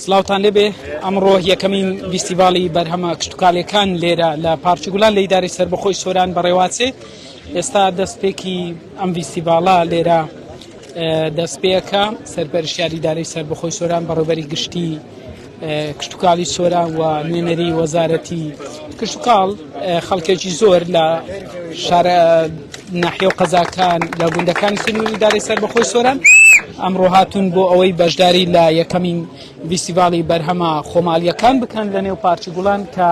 سلااوان لێبێ ئەمڕۆ یەکەمین ویستیڤالی بەرهەمە کشتتوکالەکان لێرە لە پارچگولان لە ئیداری سەر بەخۆی سۆران بەڕێواتێ ئێستا دەستپێکی ئەم ویستیڤالە لێرە دەستپێکە سەرپەرشیاریدارەی سەر بەخۆی سۆران بەڕێبەری گشتی کشتوکاڵی سۆران و نوێنەری وەزارەتی کشتوکاڵ خەڵکێکی زۆر لە شارە ناحیە و قەزاکان لە گوندەکانی سنووری داری سەر بەخۆی سۆران ئەمڕۆ هاتوون بۆ ئەوەی بەشداری لە یەکەمین ویسیڤاڵی بەرهەمە خۆماڵیەکان بکەن لە نێو پارچی گوڵان کە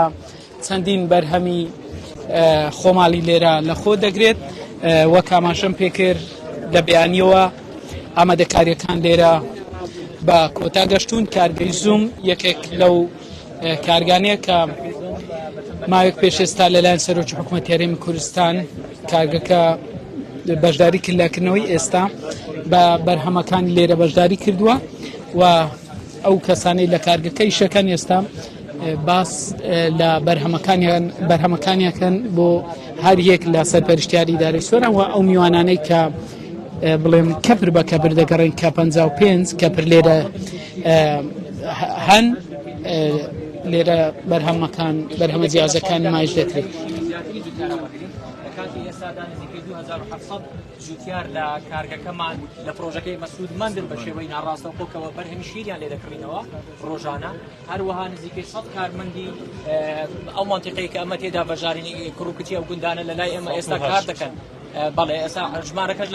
چەندین بەرهەمی خۆماڵی لێرە لەخۆ دەگرێت وە کاماشەم پێکرد لە بیانیەوە ئامادەکاریەکان لێرە بە کۆتا گەشتون کارگەی زوم یەکێک لەو کارگانەیە کە ماوێک پێشێستا لەلایەن سەرۆکی حکوومەت یاریمی کوردستان کارگەکە بەشداری کردلاکردنەوەی ئێستا بە بەرهەمەکانی لێرە بەشداری کردووە و ئەو کەسانەی لە کارگەکەی شەکەن ئێستا باس لە بەرهەمەکانیان بەرهەمەکانیەکەن بۆ هەر یەک لە سەرپەرشتیاری داری سۆران و ئەو میوانانەی کە بڵێم کەپر بە کەپر دەگەڕین کە 55 کەپر لێرە هەن لێرە بەرهەمەکان بەرهەمە جیازەکان مایش دەکرێت. جوتیار لە کارگەکەمان لە پرۆژەکەی مەسود مەندن بە شێوەی ناڕاستەوخۆکەوە بەرهەمی شیریان لێ دەکڕینەوە ڕۆژانە هەروەها نزیکەی سەد کارمەندی ئەو منتیقەیە کە ئەمە تێدا بەژارینی کوڕکوتی ئەو گوندانە لە لای ئێمە ئێستا کار دەکەن. بەڵێ ئێستا ژمارەکەش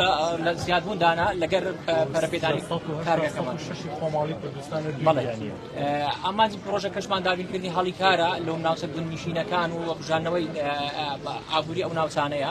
لە زیادبووندانە لەگەر پەرپێدانی کارگەکەمان خۆماڵی کوردستان ئامانج پرۆژە کەشمان دابینکردنی هەڵی کارە لەو ناوچە گوندنیشینەکان و بژانەوەی ئابووری ئەو ناوچانەیە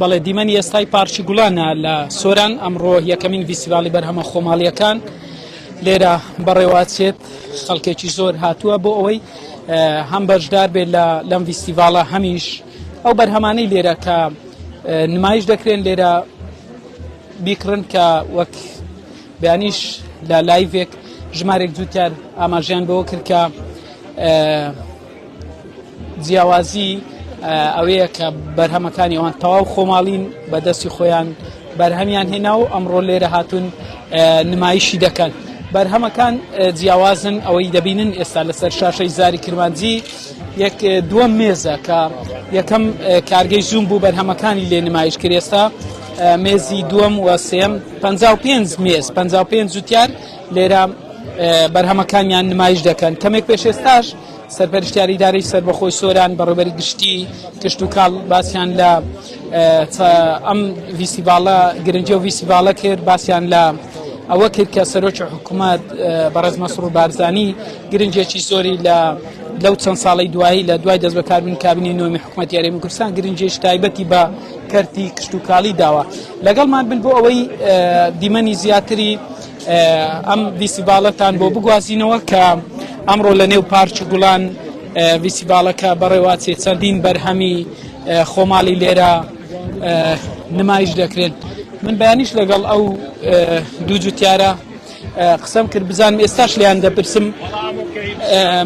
بەڵێ دیمەنی ئێستای پارکی گوڵانە لە سۆران ئەمڕۆ یەکەمین ڤیسیڤالی بەرهەمە خۆماڵیەکان لێرە بەڕێوەچێت خەڵکێکی زۆر هاتووە بۆ ئەوەی هەم بەشدار بێت لە لەم ڤیسیڤالە هەمیش ئەو بەرهەمانەی لێرە کە نمایش دەکرێن لێرە بیکڕن کە وەک بیانیش لە لایڤێک ژمارێک جووتار ئاماژیان بەوە کرد کە جیاوازی ئەوەیە کە بەرهەمەکانی ئەوان تەواو خۆماڵین بە دەستی خۆیان بەرهەمیان هێنا و ئەمڕۆ لێرە هاتون نمایشی دەکەن. بەرهەمەکان جیاوازن ئەوەی دەبینن ئێستا لەسەر شاشەی زاری کرمانجی یەک دووەم مێزە کە یەکەم کارگەی زووم بوو بەرهەمەکانی لێ نمایش کرێستا مێزی دووەم و سێم 55 مێز 55 جوتیار لێرە بەرهەمەکانیان نمایش دەکەن کەمێک پێشێستاش سەرپەرشتیاری ئیدارەی سەربەخۆی سۆران بەڕێوبەری گشتی کشت و کاڵ باسیان لە ئەم ویسیباڵە گرنگی و ویسیباڵە کرد باسیان لە ئەوە کرد کە سەرۆکی حکوومەت بەڕێز مەسرور بارزانی گرنگێکی زۆری لە لەو چەند ساڵی دوایی لە دوای دەست بەکاربوون کابینی نوێمی حکوومەت یاریمی کوردستان گرنجێش تایبەتی بە کەرتی کشتتوکالی داوە لەگەڵمان بن بۆ ئەوەی دیمەنی زیاتری ئەم ڤیسیڤاڵەتان بۆ بگوازینەوە کە ئەمڕۆ لە نێو پارچ گوڵان ڤیسیڤاڵەکە بەڕێواچێ چەندین بەرهەمی خۆماڵی لێرە نمایش دەکرێن من بەیانیش لەگەڵ ئەو دوو جوتیارە قسەم کرد بزانم ئێستاش لیان دەپرسم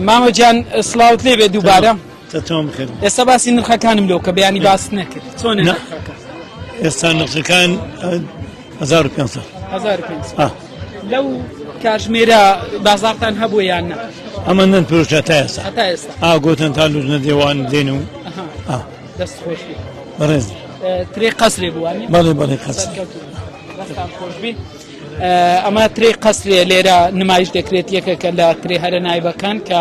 مامەجان سلااوت لێبێ دووبارە تەتەوم کرد ئێستا باسی نرخەکانم لۆ کە بەیانی باست نەکرد چۆن ئێستا نرخەکان 1500 لەو کاژمێرە بازارتان هەبوو یان نە ئەمە نەن پرۆژە تا ئێستا تا ئێستا ئاگۆتن تا لوژنە دێوان دێن و دەست خۆش بەڕێز ترێ قەسرێ بووە بەڵێ بەڵێ قەس خۆش بین. ئەمە ترێ قەسرێ لێرە نمایش دەکرێت یەکێکە لە ترێ هەرە نایبەکان کە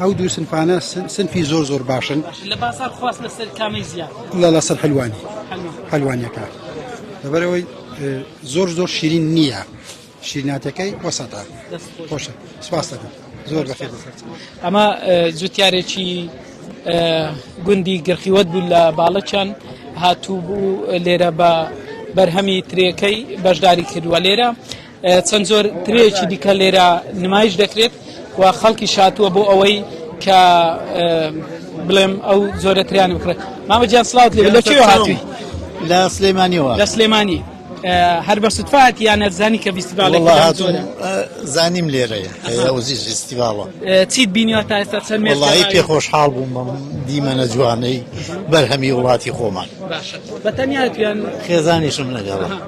ئەو دوو سنفانە سنفی زۆر زۆر باشن لە بازار خواست لەسەر کامی زیاد لە لەسەر حلوانی حلوانەکە لەبەرەوەی زۆر زۆر شیرین نییە شیرناتەکەی وەسەتا خۆشە سپاس دەکەم زۆر بەخێ ئەمە جوتیارێکی گوندی گرخیوەت بوو لە باڵەچەند هاتوو بوو لێرە بە بەرهەمی ترێەکەی بەشداری کردووە لێرە چەند جۆر ترێکی دیکە لێرە نمایش دەکرێت و خەڵکی شاتووە بۆ ئەوەی کە بڵێم ئەو زۆرە تریان بکرێت مامە جیان سلااوت لێ لە چێ هاتی لە سلێمانیەوە لە سلێمانی هەر بە سوتفاەت یانە زانی کە فیستیڤالێک زانیم لێرەیە وزی فیستیڤاڵە چیت بینیوە تا ئێستا چەند مێڵی پێ خۆشحاڵ بووم دیمەنە جوانەی بەرهەمی وڵاتی خۆمان بەتەنیا تویان خێزانیشم لەگەڵە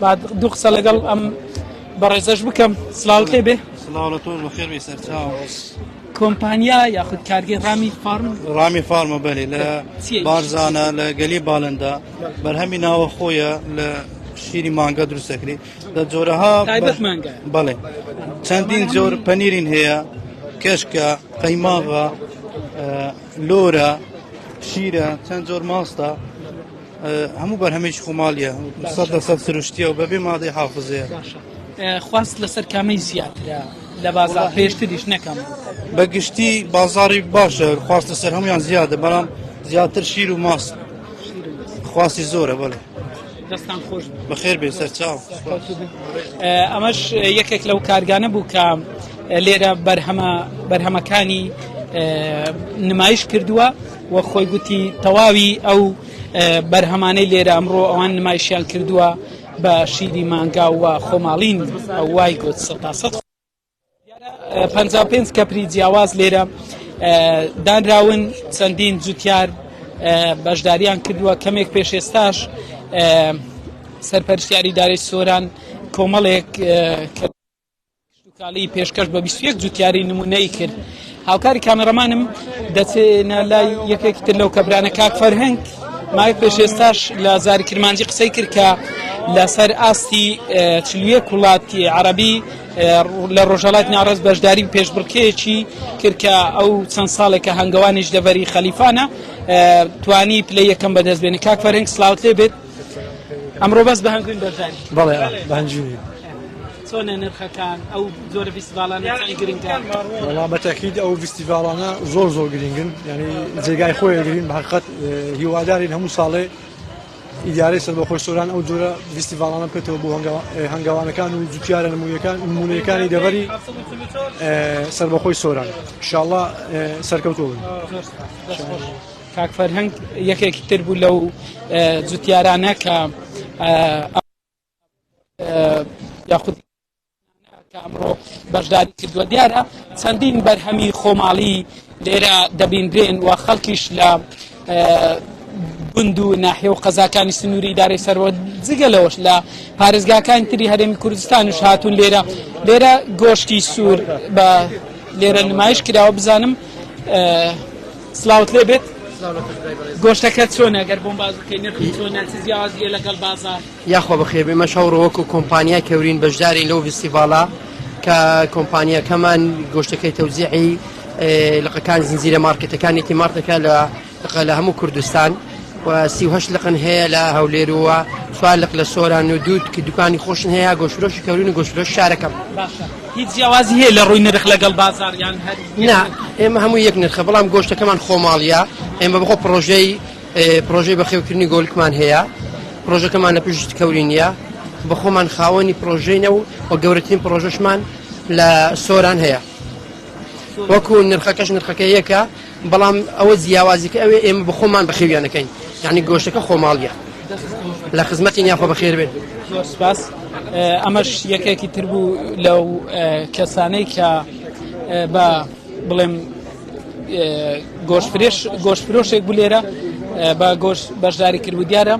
با دوو قسە لەگەڵ ئەم بەڕێزەش بکەم سلااوت لێ بێ کۆمپانیا یاخود کارگەی ڕامی فارم ڕامی فارمە بەێ لە بارزانە لە گەلی باڵندا بەرهەمی ناوە خۆیە لە شیری مانگە دروستەکری لە جۆرەها بەڵێ چەندین جۆر پەنیرین هەیە کەشکە قەیماغە لۆرە شیرە چەند جۆر ماستە هەموو بەرهەمێکی خۆماڵیە سەد لە سەد سروشتیە و بەبێ مادەی حافزەیە خواست لەسەر کامەی زیاترە لە بازار پێشتریش نەکەم بە گشتی بازاری باشە خواست لەسەر هەمویان زیادە بەڵام زیاتر شیر و ماس خواستی زۆرە بەڵێ دەستان خۆش بەخێر بێ سەر چاو ئەمەش یەکێک لەو کارگانە بوو کە لێرە بەرهەمە بەرهەمەکانی نمایش کردووە وەک خۆی گوتی تەواوی ئەو بەرهەمانەی لێرە ئەمڕۆ ئەوان نمایشیان کردووە بە شیری مانگا و خۆماڵین وای گوت سە تا سە پ پێنج کەپری جیاواز لێرە دانراون چەندین جوتیار بەشداریان کردووە کەمێک پێش ئێستاش سەرپەرشتیاری دارێک سۆران کۆمەڵێک کشتوکاڵی پێشکەش بە بیست و یەک جوتیاری نموونەیی کرد هاوکاری کامێڕەمانم دەچێنە لای یەکێکی تر لەو کەبرانە کاک فەرهەنگ ماوەی پێش ئێستاش لە زاری کرمانجی قسەی کرد کە لەسەر ئاستی چلویە کوڵاتی عربی لە ڕۆژەڵات ناڕز بەشداری پێشبڕکێکی کرد کە ئەو چەند ساڵێکە هەنگەوانیش دەڤەری خەلیفانە توانی پلە یەکەم بەدەست بێنی کاک فەرهنگ سلااوت لێ بێت ئەمڕۆ بەس بە هەنگوین بەرداری بەڵێ بەنجوی چۆنە نرخەکان ئەو زۆرە فیستیڤالانەکانی گرنگە وڵا بەتەکید ئەو فیستیڤالانە زۆر زۆر گرنگن یعنی جێگای خۆی گرین بەقەت هیوادارین هەموو ساڵێ ئیدارەی سەر بەخۆش سۆران ئەو جۆرە فیستیڤالانە بکەێتەوە بۆ هەنگاوانەکان و جوتیارە نمونونەکان نمونونەکانی دەبەری سەربەخۆی سۆران شاءله سەرکەوتۆ بن. کاک فەرهەنگ یەکێکی تر بوو لەو جوتیارانە کە یاخود ئەمڕۆ بەشداری کردووە دیارە چەندین بەرهەمی خۆماڵی لێرە دەبینرێن و خەڵکیش لە گوند و ناحێ و قەزاکانی سنووری دارەی سەرەوە جگە لەوەش لە پارێزگاکانی تری هەرێمی کوردستان و هاتوون لێرە لێرە گۆشتی سوور بە لێرە نمایش کراوە بزانم سلاوت لێ بێت گۆشتەکە چۆنە گەر بۆم باز بکەی نرخی چۆنە چ جیاوازیە لەگەڵ بازار یاخوا بەخێ بێمە شەڕۆ وەکو کۆمپانیا کەورین بەشداری لەو فستیڤالە کە کۆمپانیەکەمان گۆشتەکەی تەوزیعی لقەکان زنجیرە مارکتەکانێکی مارتەکە لە لقە لە هەموو کوردستان و سیهش لقن هەیە لە هەولێرووە چوار لق لە سۆران و دوود کە دوکانی خۆشن هەیە گۆشرۆشی کەورین و گۆشرۆش شارەکەم باشە هیچ جیاوازی هەیە لە ڕووی نرخ لەگەڵ بازاڕ یان هەر نا ئێمە هەموو یەک نرخە بەڵام گۆشتەکەمان خۆماڵیە ئێمە بەخۆ پرۆژەی پرۆژەی بەخێوکردنی گۆلکمان هەیە پرۆژەکەمان لە پشت کەوری نیە بە خۆمان خاوەنی پرۆژینە و و گەورەترین پرۆژەشمان لە سۆران هەیە وەکو نرخەکەش نرخەکە یەکە بەڵام ئەوە جیاوازیکە ئەوێ ئێمە بە خۆمان بەخێویانەکەین یعنی گۆشتەکە خۆماڵیە لە خزمەتی نیاخۆ بەخێر بێت سپاس ئەمەش یەکێکی تر بوو لەو کەسانەی کە بە بڵێم گۆشتفرێش گۆشتفرۆشێک بوو لێرە بە گۆش بەشداری کرد و دیارە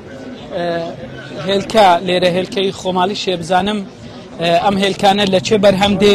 هێلکە لێرە هێلکەی خۆماڵی شێ بزانم ئەم هێلکانە لە چێ بەرهەم دێ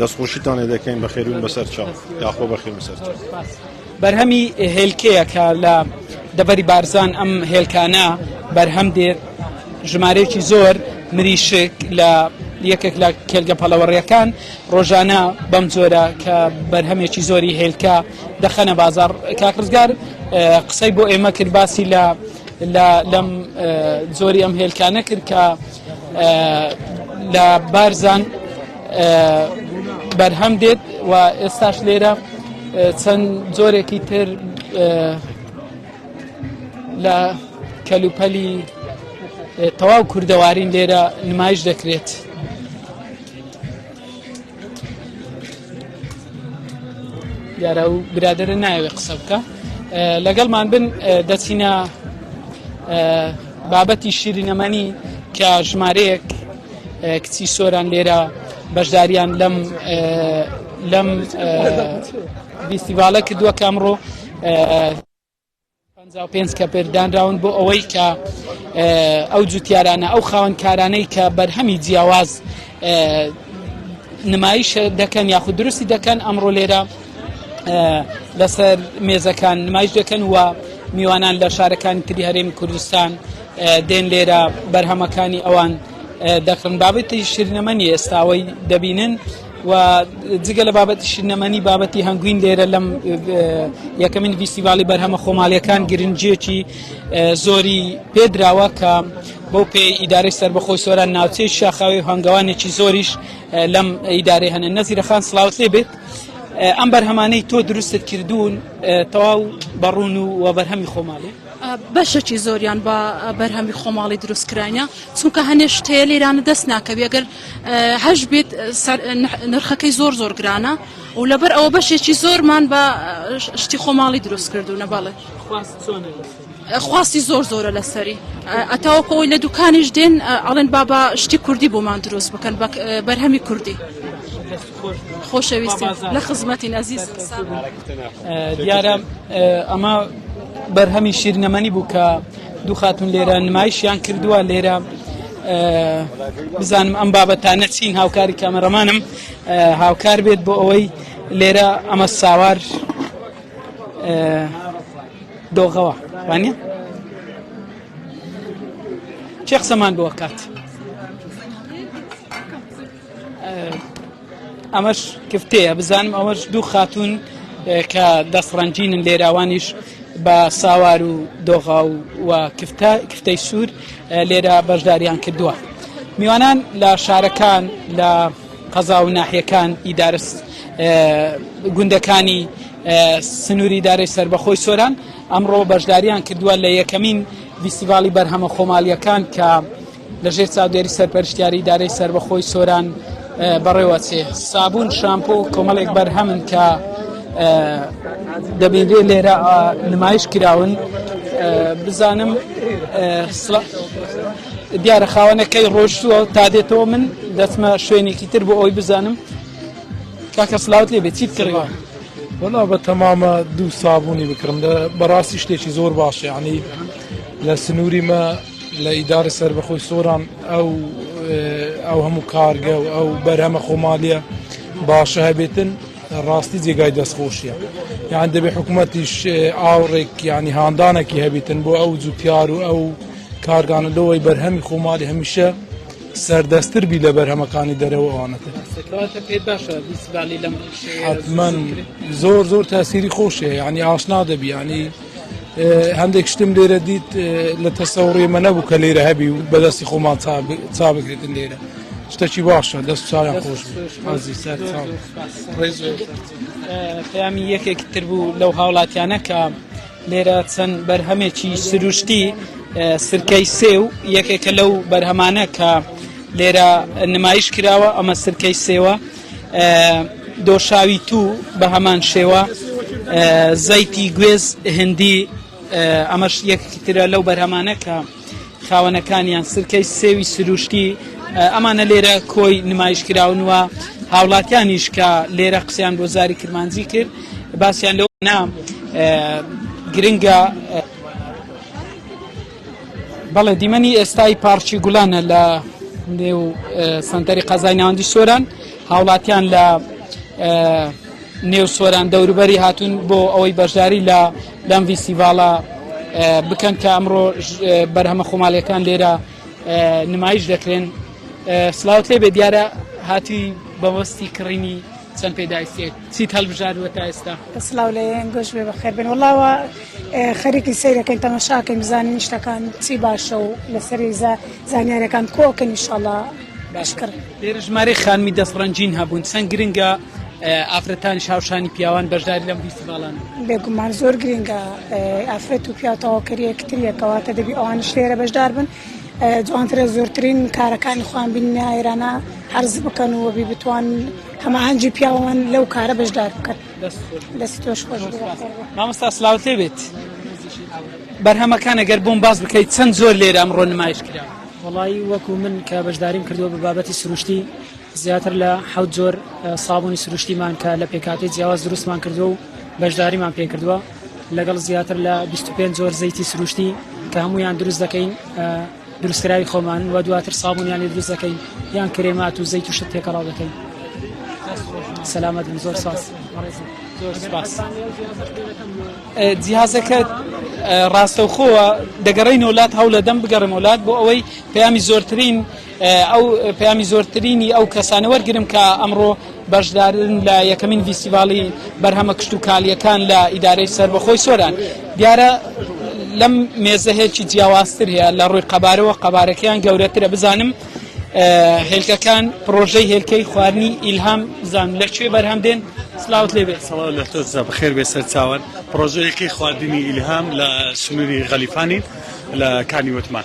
دەستخۆشیتان لێ دەکەین بەخێرون بەسەر چاو یاخۆ بەخێرم سەر بەرهەمی هێلکەیە کە لە دەبەری بارزان ئەم هێلکانە بەرهەم دێت ژمارەیەکی زۆر مریشک لە یەکێک لە کێلگە پەڵەوەڕیەکان ڕۆژانە بەم جۆرە کە بەرهەمێکی زۆری هێلکە دەخەنە بازار کاکڕزگار قسەی بۆ ئێمە کرد باسی لە لە لەم زۆری ئەم هێلکانە کرد کە لە بارزان بەرهەم دێت و ئێستاش لێرە چەند جۆرێکی تر لە کەلوپەلی تەواو کوردەوارین لێرە نمایش دەکرێت. دیارە و برادرە نایەوێ قسە بکە لەگەڵمان بن دەچینە بابەتی شیرینەمەنی کە ژمارەیەک کچی سۆران لێرە بەشداریان لەم لەم فیستیڤالە کردووە کامڕۆ پەنجا و پێنج کەپر دانراون بۆ ئەوەی کە ئەو جوتیارانە ئەو خاوەنکارانەی کە بەرهەمی جیاواز نمایش دەکەن یاخود دروستی دەکەن ئەمڕۆ لێرە لەسەر مێزەکان نمایش دەکەن و میوانان لە شارەکانی تری هەرێمی کوردستان دێن لێرە بەرهەمەکانی ئەوان دەکڕن بابەتی شیرنەمەنی ئێستاوەی دەبینن و جگە لە بابەتی شنەمەنی بابەتی هەنگوین لێرە لەم یەکەمین ویستیڤالی بەرهەمە خۆماڵیەکان گرنجێکی زۆری پێدراوە کە بەو پێ ئیدارەی سربەخۆی سۆران ناوچەی شاخاوی هەنگەوانێکی زۆریش لەم ئیدارەی هەنە نەزیرە خان سلااوسێ بێت ئەم بەرهەمانەی تۆ دروستت کردوون تەواو بەڕون و وە بەرهەمی خۆماڵێ بەشێکی زۆریان بە بەرهەمی خۆماڵی دروستکراینە چونکە هەنێ شتەیە لێرانە دەست ناکەوی ئەگەر هەش بیت نرخەکەی زۆر زۆر گرانە و لەبەر ئەوە بەشێکی زۆرمان بە شتی خۆماڵی دروست کردوونە بەڵێ خواستی زۆر زۆرە لەسەری ئەتاوەکەەوەی لە دوکانیش دێن ئەڵێن بابا شتی کوردی بۆمان دروست بکەن بەرهەمی کوردی. خۆشەویست لە خزمەتین ئەزیز دیارە ئەمە بەرهەمی شیرنەمەنی بوو کە دوو خاتون لێرە نمایشیان کردووە لێرە بزانم ئەم بابەتانە چین هاوکاری کامەڕەمانم هاوکار بێت بۆ ئەوەی لێرە ئەمە ساوار دۆغەوە وانە چێ قسەمان بۆ کات. ئەمەش کفتەیە بزانم ئەوەش دوو خاتون کە دەستڕەنجینن لێراوانیش بە ساوار و دۆغا و کفتە کفتەی سوور لێرە بەشداریان کردووە میوانان لە شارەکان لە قەزا و ناحیەکان ئیدارس گوندەکانی سنووری دارەی سربەخۆی سۆران ئەمڕۆ بەشداریان کردووە لە یەکەمین ویسیڤالی بەرهەمە خۆمالیەکان کە لە ژێر چاودێری سەرپەرشتیاری ئیدارەی سەربەخۆی سۆران بەڕێوە چێ سابون شامپۆ و کۆمەڵێک بەرهەمن کە دەبینرێ لێرە نمایش کراون بزانم دیارە خاوەنەکەی ڕۆشتووە تا دێتەوە من دەچمە شوێنێکی تر بۆ ئەوی بزانم کاکە سلااوت لێ بێت چی بکڕەوە وەڵا بە تەمامە دوو سابوونی بکڕم لە بەڕاستی شتێکی زۆر باشە عنی لە سنووری مە لە ئیدارە سەربەخۆی سۆران ئەو ئەو هەموو کارگە و ئەو بەرهەمە خۆمالیە باشە هەبێتن ڕاستی جێگای دەستخۆشیە یان دەبێ حکوومەتیش ئاوڕێک ینی هاندانێکی هەبێتن بۆ ئەو جوتیار و ئەو کارگانە لەوەی بەرهەمی خۆمالی هەمیشە سەردەستتر بی لە بەرهەمەکانی دەرەوەوانەکە حتمما زۆر زۆر تاسیری خۆشێ ینی ئاشنا دەبیانی هەندێک شتم لێرە دیت لە تەسەوڕی مە نەبوو کە لێرە هەبی و بەدەستی خۆمان چا بکردن لێرە شتەکی باشە دەست چاویان خۆش پەیامی یەکێک تر بوو لەو هاوڵاتیانە کە لێرە چەند بەرهەمێکی سروشتی سرکەی سێ و یەکێکە لەو بەرهەمانە کە لێرە نمایش کراوە ئەمە سرکەی سێوە دۆشاوی توو بە هەمان شێوە زەیتی گوێز هندی ئەمەش یەکتی ترە لەو بەرهەمانە کە خاوەنەکانیان سرکەی سێوی سروشتی ئەمانە لێرە کۆی نمایش کراون وە هاوڵاتیانیش کە لێرە قسەیان بۆ زاری کرمانجی کرد باسییان لەو نا گرنگە بەڵێ دیمەنی ئێستای پارچی گوڵانە لە نێو سنتەری قەزای ناوەندی سۆران هاوڵاتیان لە نێو سۆران دەوروبەری هاتوون بۆ ئەوەی بەشداری لە لەم ویسیڤاڵە بکەن کە ئەمڕۆ بەرهەمە خۆماڵیەکان لێرە نمایش دەکرێن سلااوت لێ بێ دیارە هاتووی بەوەستی کڕینی چەند پێداویستێک چیت هەلبژاردوە تا ئێستا؟ سڵاو لە یێن گۆش بێ بەخێر بێن وەڵا وا خەریکی سەیرەکەین تەمەشاکەین بزانین شتەکان چی باشە و لەسەری زا زانیارەکان کۆکەن ئیشەڵا باشکڕ لێرە ژمارەی خانمی دەست ڕەنجین هەبوون چەند گرنگە ئافرەتانی شاوشانی پیاوان بەشداری لەم فیستیڤاڵانە بێگومان زۆر گرنگە ئافرەت و پیاو تەواوکەری یەکتریە کەواتە دەبی ئەوانیش لێرە بەشدار بن جوانترە زۆرترین کارەکانی خۆیان بیننە ئێرانە عرض بکەن و وەبی بتوان هەماهەنگی پیاوان لەو کارە بەشدار بکەن دەست تۆش خۆش مامۆستا سلااوت لێ بێت بەرهەمەکانە گەر بۆم باز بکەیت چەند زۆر لێرە ئەمڕۆ نمایش کرا وڵی وەکو من کە بەشداریم کردووە بە بابەتی سروشتی زیاتر لە حەوت زۆر سابوونی سروشتیمان کە لە پێکاتی جیاواز دروستمان کردو و بەشداریمان پێ کردووە لەگەڵ زیاتر لە 25 جۆر زەیتی سروشتی کە هەمویان دروست دەکەین دروستکراوی خۆمان و دواتر سابونیان لێ دروست دەکەین یان کرێمات و زەیت و شت تێکەڵاو دەکەین سەلامەت بن زۆر ساس جیازەکە ڕاستەوخۆوە دەگەڕین وڵات هەوڵە دەم بگەڕم وڵات بۆ ئەوەی پەیامی زۆرترین ئەو پەیامی زۆرترینی ئەو کەسانە وەرگرم کە ئەمڕۆ بەشدارن لە یەکەمین ڤیستیڤاڵی بەرهەمە کشتتوکالیەکان لە ئیدارەی سربەخۆی سۆران دیارە لەم مێزە هێلکی جیاوازتر هەیە لە ڕووی قەبارەوە قەبارەکەیان گەورەترە بزانم هێلکەکان پرۆژەی هێلکەی خواردنی ئیلهام زان لە کوێ بەرهەم دێن سلااوت لێ بێت سڵاو لە تۆ بەخێر بێ سەر چاوان پرۆژەیەکی خواردنی ئیلهام لە سنووری غەلیفانی لە کانی وتمان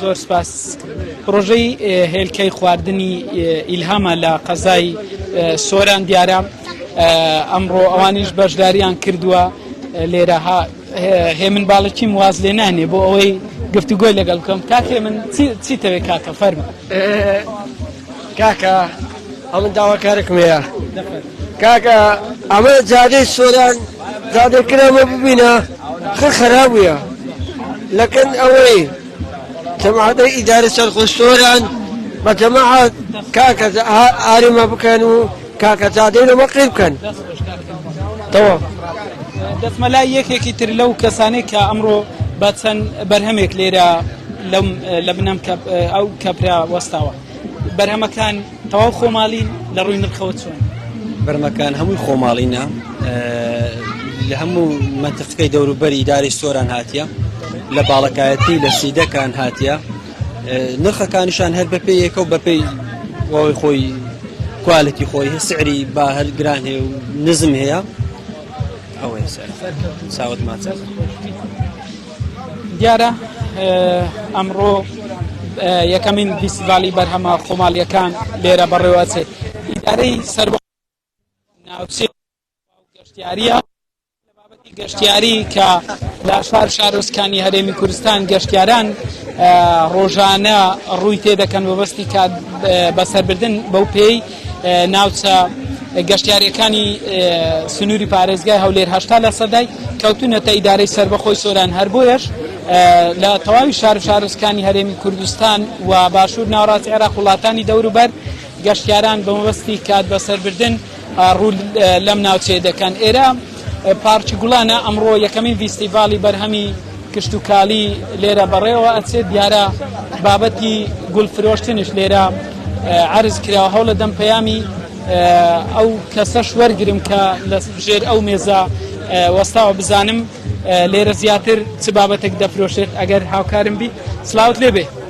زۆر سپاس پرۆژەی هێلکەی خواردنی ئیلهامە لە قەزای سۆران دیارە ئەمڕۆ ئەوانیش بەشداریان کردووە لێرەها هێمن باڵەکیم واز لێ نانێ بۆ ئەوەی گفتوگۆی لەگەڵ بکەم کاکێ من چیتەوێت کاکە فەرمە کاکە ئەمن داواکارێکم هەیە کاکە ئەمە جادەی سۆران جادەی کرامە ببینە خر خرابە لەکەن ئەوەی جەماعەتەی ئیدارە سەرخۆ سۆران بە جەماعەت کاکە ئاریمە بکەن و کاکە جادەی لەمە قی بکەن تەوە دەسمە لای یەکێکی تر لەو کەسانێک کە ئەمڕۆ بە چەند بەرهەمێک لێرە لەم لە بنەم ئەو کەپرا وەستاوە بەرهەمەکان تەواو خۆماڵین لە ڕووی نرخەوە چۆن؟ بەرمەکان هەمووی خۆماڵینە لە هەموو منتفقەی دەوروبەری داری سۆران هاتیە لە باڵەکایەتی لە سیدەکان هاتیە نرخەکانیشان هەر بەپێ یەکە و بەپێی وەوەی خۆی کوالەتی خۆی سعری با هەر گران هەیە و نزم هەیە ئەوەی ساوت ماچە. دیارە ئەمڕۆ یەکەمین فیسڤالی بەرهەمە خۆمالیەکان لێرە بەڕێوەچێت ئیدارەی سەر ناوچێ گەشتیاریە گەشتیاری کە لە شار شارۆستکانی هەرێمی کوردستان گەشتیاران ڕۆژانە ڕووی تێ دەکەن وەبستی کات بەسەربردن بەو پێی ناوچە گەشتیاریەکانی سنووری پارێزگای هەولێر هەشتا لە سەدای کەوتونەتە ئیدارەی سربەخۆی سۆران هەر بۆیەش لە تەواوی شار شارستکانی هەرێمی کوردستان و باشوور ناوڕاستی عێراق وڵاتانی دەوروبەر گەشتیاران بەمەبستی کات بەسەربردن ڕوو لەم ناوچێ دەکەن ئێرە پارکی گوڵانە ئەمڕۆ یەکەمین ڤیستیڤاڵی بەرهەمی کشتوکالی لێرە بەڕێوە ئەچێت دیارە بابەتی گوڵ فرۆشتنش لێرە عرض کراوە هەوڵە دەم پەیامی ئەو کەسەش وەرگرم کە لە ژێر ئەو مێزە وەستاوە بزانم لێرە زیاتر چ بابەتێک دەفرۆشێت ئەگەر هاوکارم بیت سلااوت لێبێ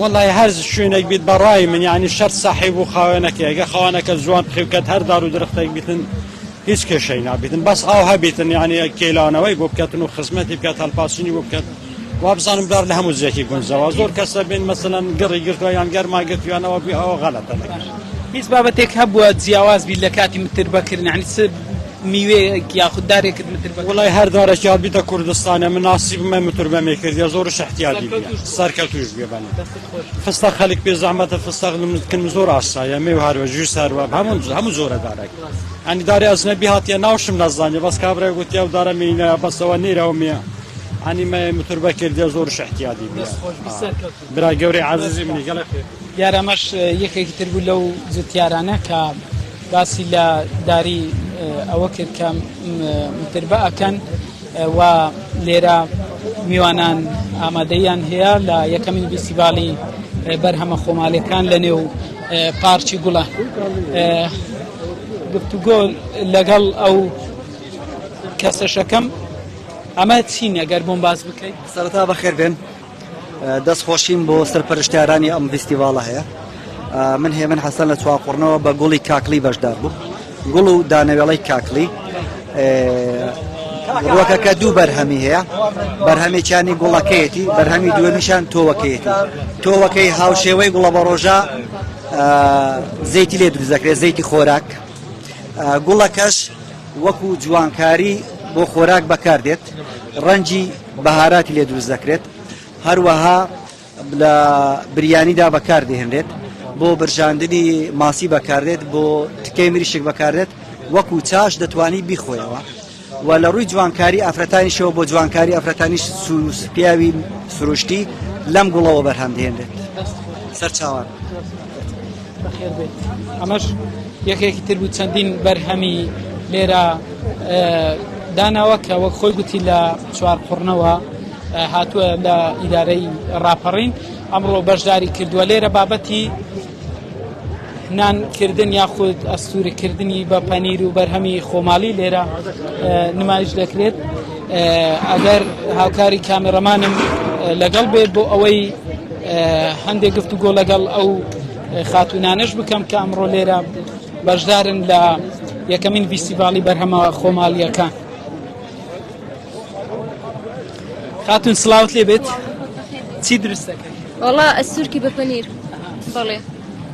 وەڵای هەر شوێنێک بیت بە ڕای من یعنی شەرت ساحیب و خاوێنەکە ئەگە خاوانەکە زوان پخیوکەت هەر دار و درختێک بیتن هیچ کێشەی نابیتن بەس ئاو هەبیتن یعنی کێلانەوەی بۆ بکەتن و خزمەتی بکات هەلپاسینی بۆ بکەن وابزانم دار لە هەموو زیێکی گونجەوە زۆر کەسە بین مەسەەن گڕی گرتووە یان گەرما گرتویانەوە بی ئەوە غەلەتە هیچ بابەتێک هەبووە جیاواز بی لە کاتی متر بەکردنی میوەیەک یاخود دارێکت متر بە وەڵای هەر دارەکیان بیتە کوردستانێ من ناسیبم من متر بە مێ کردیە زۆرش احتیاجی بیە سەرکەتوش بێ بەنە دەستت خۆش فستەق خەلک پێ زەحمەتە فستەق لمت کن زۆر ئاسایە مێ و هەروە جوس هەروە هەموو هەموو زۆرە دارەک ئەنی دارێ ئەزنەبی هاتیە ناوشم نەزانیە بەس کابرای گوتی ئەو دارە مینە بەسەوە نێرەوە مێ ئەنی مە متر بە کردیە زۆرش احتیاجی بیە دەست خۆش بی سەرکەوتوو برای گەورەی عەزیزی منی گەلەک خۆش دیار ئەمەش یەکێکی تر بوو لەو جوتیارانە کە باسی لە داری ئەوە کرد کە متربە ئەکەن و لێرە میوانان ئامادەیان هەیە لە یەکەمین بیسیباڵی بەرهەمە خۆمالەکان لە نێو پارچی گوڵە گفتوگۆ لەگەڵ ئەو کەسەشەکەم ئەمە چین ئەگەر بۆم باز بکەیت سەرتا بەخێر بێن دەست خۆشیم بۆ سەرپەرشتیارانی ئەم ڤیستیڤاڵە هەیە من هێمن حەسەن لە چواقڕنەوە بە گوڵی کاکلی بەشدار بوو گوڵ و دانەوێڵەی کاکلی ڕوەکەکە دوو بەرهەمی هەیە بەرهەمێکیانی گوڵەکەیەتی بەرهەمی دووەمیشان تۆوەکەیەتی تۆوەکەی هاوشێوەی گوڵە بە ڕۆژە زەیتی لێ دروزەکرێت زەیتی خۆراک گوڵەکەش وەکو جوانکاری بۆ خۆراک بەکاردێت ڕەنجی بەهاراتی لێ دروست دەکرێت هەروەها لە بریانیدا بەکاردێنرێت بۆ برژاندنی ماسی بەکاردێت بۆ تکەی مریشک بەکاردێت وەکو چاش دەتوانی بیخۆیەوە و لە ڕووی جوانکاری ئافرەتانیشەوە بۆ جوانکاری ئەفرەتانیش سووس پیاوی سروشتی لەم گوڵەوە بەرهەمدێنرێت سەرچاوان. بەخێر بێت ئەمەش یەکێکی تر بوو چەندین بەرهەمی لێرە داناوە کە وەک خۆی گوتی لە چوار قڕنەوە هاتووە لە ئیدارەی ڕاپەڕین ئەمڕۆ بەشداری کردووە لێرە بابەتی نانکردن یاخود ئەستورکردنی بە پەنیر و بەرهەمی خۆماڵی لێرە نمایش دەکرێت ئەگەر هاوکاری کامێڕەمانم لەگەڵ بێت بۆ ئەوەی هەندێک گفت و گۆ لەگەڵ ئەو خاتونانش بکەم کە ئەمڕۆ لێرە بەشدارن لە یەکەمین فیستیڤاڵی بەرهەمە خۆماڵیەکان خاتون سلااوت لێ بێت چی درستەکە وڵا ئەسوورکی بە پەنیر بەڵێ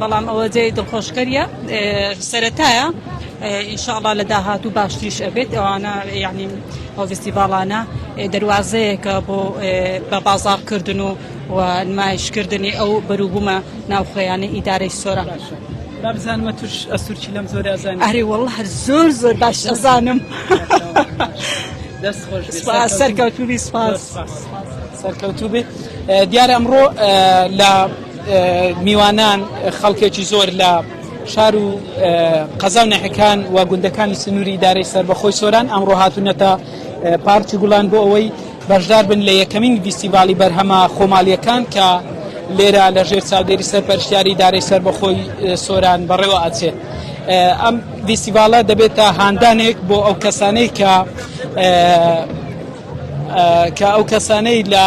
بەڵام ئەوە جێی دڵخۆشکەریە سەرەتایە ئینشاءڵا لە داهات و باشتریش ئەبێت ئەوانە یعنی ئەو فستیڤالانە دەواازەیەکە بۆ بە بازارکردن و و نمایشکردنی ئەو بەروبوومە ناوخۆیانە ئیدارەی سۆرە. بابزانمە توش ئەسوورچی لەم زۆر ئەزان ئەری وڵ هەر زۆر زۆر باش ئەزانم دەست خۆش سەرکەوتوبی سپاس. سەرکەوتوو بێت دیارە ئەمڕۆ لە میوانان خەڵکێکی زۆر لە شار و قەزا و نەحەکان و گوندەکانی سنووری ئیدارەی سەربەخۆی سۆران ئەمڕۆ هاتوونەتە پارکی گوڵان بۆ ئەوەی بەشدار بن لە یەکەمین فیستیڤاڵی بەرهەمە خۆماڵییەکان کە لێرە لە ژێر چاودێری سەرپەرشتیاری ئیدارەی سەربەخۆی سۆران بەڕێوە ئەچێت ئەم فیستیڤاڵە دەبێتە هاندانێک بۆ ئەو کەسانەی کە کە ئەو کەسانەی لە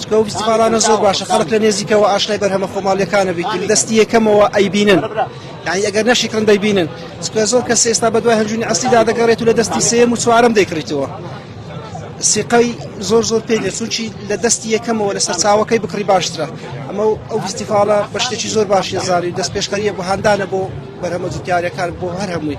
چونکە ئەو فیستیڤاڵانە زۆر باشە خەڵک لە نێزیکەوە ئاشنای بەرهەمە خۆماڵیەکانە بیت لە دەستی یەکەمەوە ئەیبینن یعنی ئەگەر نەشیکڕن دەیبینن چونکە زۆر کەس ئێستا بە دوای هەنجونی ئەسلیدا دەگەڕێت و لە دەستی سێم و چوارم دەیکڕیتەوە سیقەی زۆر زۆر پێ دێت چونچی لە دەستی یەکەمەوە لە سەرچاوەکەی بکڕی باشترە ئەمە ئەو فیستیڤاڵە بە شتێکی زۆر باشی زاری دەست پێشخەریە بۆ هاندانە بۆ بەرهەمە جوتیارەکان بۆ هەر هەمووی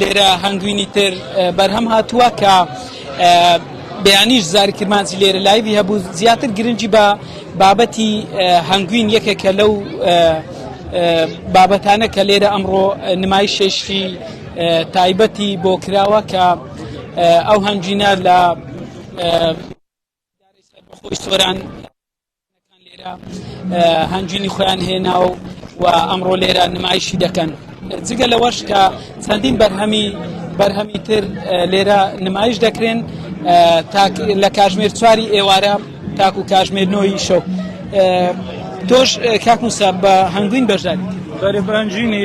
لێرە هەنگوینی تر بەرهەم هاتووە کە بەیانیش زاری کرمانجی لێرە لایوی هەبوو زیاتر گرنگی بە بابەتی هەنگوین یەکێکە لەو بابەتانە کە لێرە ئەمڕۆ نمای شێشی تایبەتی بۆ کراوە کە ئەو هەنگینە لە خۆی سۆران لێرە هەنگوینی خۆیان هێناوە و ئەمڕۆ لێرە نمایشی دەکەن جگە لەوەش کە چەندین بەرهەمی بەرهەمی تر لێرە نمایش دەکرێن لە کاژمێر چواری ئێوارە تاکو کاژمێر نۆی شەو تۆش کاکوسە بە هەنگوین بەشداری بەرەبانجینی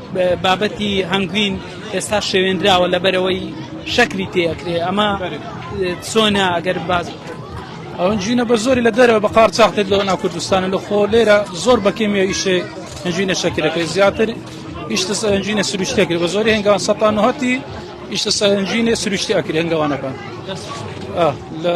بابەتی هەنگوین ئێستا شێوێنراوە لەبەرەوەی شەکری تێکرێ ئەمە چۆنە ئەگەر باز ئەوەن جوینە بە زۆری لە دەرەوە بە قار چاختێت لەوە ناو کوردستانە لە خۆ لێرە زۆر بەکەمیە ئیشێ هەنجوینە شەکرەکەی زیاتر ئیشتە سەرنجینە سروشتێکرد بە زۆری هەنگان سەتان هەتی ئیشتە سەرنجینە سروشتی ئەکرێنگەوانەکان لە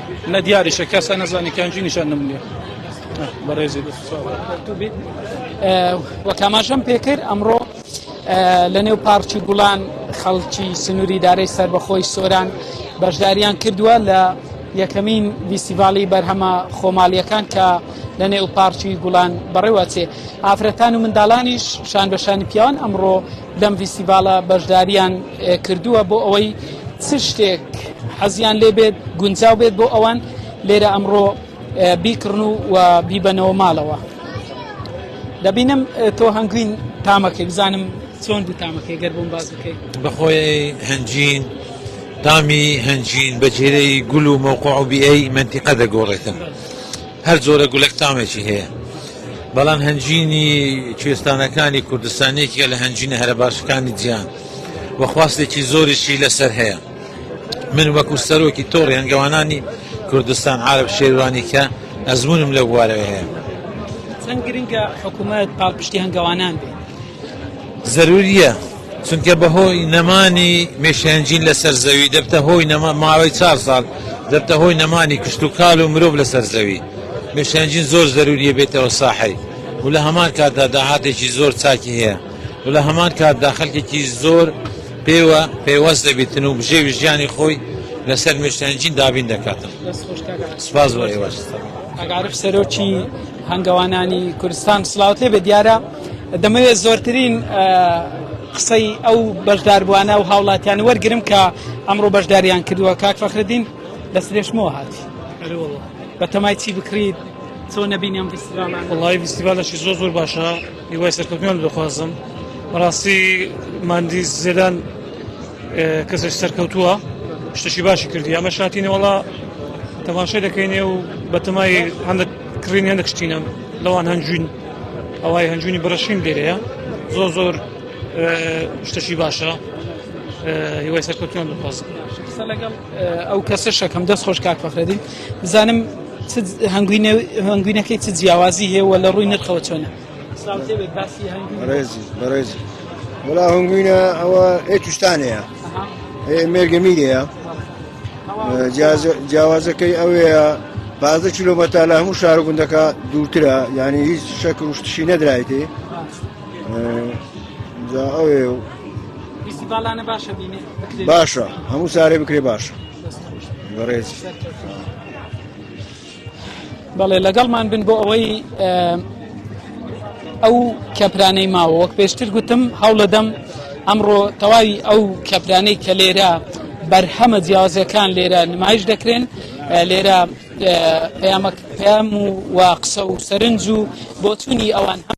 نە دیاریشە کەسە نەزانی کەنجی نیشان نمونێ بەڕێزی وەکاماشم پێکرد ئەمڕۆ لە نێو پارچی گوڵان خەڵکی سنووری دارەی سربەخۆی سۆران بەشداریان کردووە لە یەکەمین ویسیڤالی بەرهەمە خۆمالیەکان کە لە نێو پارچی گوڵان بەڕێوەچێ ئافرەتان و منداڵانیش شان بەشانی پیاوان ئەمڕۆ لەم ڤیستیڤاڵە بەشداریان کردووە بۆ ئەوەی چ شتێک حەزیان لێ بێت گونجاو بێت بۆ ئەوان لێرە ئەمڕۆ بیکڕن و و بیبەنەوە ماڵەوە دەبینم تۆ هەنگوین تامەکەی بزانم چۆن بوو تامەکەی گەر بۆم باز بکەیت بەخۆی هەنجین تامی هەنجین بەجێرەی گول و مەوقع و بیئەی منتیقە دەگۆڕێتن. هەر جۆرە گولەک تامێکی هەیە بەڵام هەنجینی کوێستانەکانی کوردستانێکیە لە هەنجینە هەرە باشەکانی جیان و خواستێکی زۆریشی لەسەر هەیە من وەکو سەرۆکی تۆڕی هەنگەوانانی کوردستان عرب شێوانی کە ئەزمونم لە بوارەوە هەیە چەند گرنگە حکوومەت پاڵپشتی هەنگەوانان بێت زەروورییە، چونکە بە هۆی نەمانی مێشێنجین لە سەر زەوی دەبتە هۆی نەما ماوەی چار ساڵ دەبتە هۆی نەمانی کشت و کال و مرۆڤ لە سەر زەوی. مێشێنجین زۆر زەروورییە بێتەوە ساحەی و لە هەمان کاتدا داهاتێکی زۆر چاکی هەیە و لە هەمان کاتدا خەلکێکی زۆر پێوە پەیوەست دەبیتن و بژێوی ژیانی خۆی لە سەر مێشێنجین دابین دەکاتن. دەست خۆش کاکە عارف. سپاس بۆ ئێوەش. کاک عارف سەرۆکی هەنگەوانانی کوردستان سڵاوت لێبێت دیارە دەمەوێت زۆرترین قسەی ئەو بەشداربووانە و هاوڵاتیان وەرگرم کە ئەمڕۆ بەشداریان کردووە کاک فەخردین دەست درێژمەوە هاتی بە تەمای چی بکریت چۆن نەبینیم فستیڤالان وڵی فستیڤالەشی زۆر زۆر باشە هیوای سەرکەوتنیان دەخوازم بەڕاستی مادی زێدان کەسش سەرکەوتووە شتشی باشی کردی ئەمە شاتینەوەڵا تەماشای دەکەینێ و بەتەمای هەندێک کڕین هەندێک شتینە لەوان هەنجوین ئەوای هەنجونی بڕشین دێرەیە زۆر زۆر شتەشی باشە هیوای سەرکەوتیان دەخوازم قسە لەگەڵ ئەو کەسە شەکەم دەست خۆش کاک فەخرەدی بزانم هەنگوینەکەی چ جیاوازی هەیە و لە ڕووی نرخەوە چۆنە بەڕێزی بەڕێزی وڵا هەنگوینە ئەوە ئێ توشتانەیە مێرگەمیرەیە جیاوازەکەی ئەوەیە بازدە کیلومەتر لە هەموو شار گوندەکە دوورترە یعنی هیچ شەک شتشی نەدرایتێ ئەوێ باشە هەموو سارێ بکرێ باشە بەڕێز. بەڵێ لەگەڵمان بن بۆ ئەوەی ئەو کەپرانەی ماوە وەک پێشتر گوتم هەوڵەدەم ئەمڕۆ تەواوی ئەو کەپرانەی کە لێرە بەرهەمە جیازەکان لێرە نمایش دەکرێن لێرە پەیام و قسە و سەرنج و بۆچوونی ئەوان هەم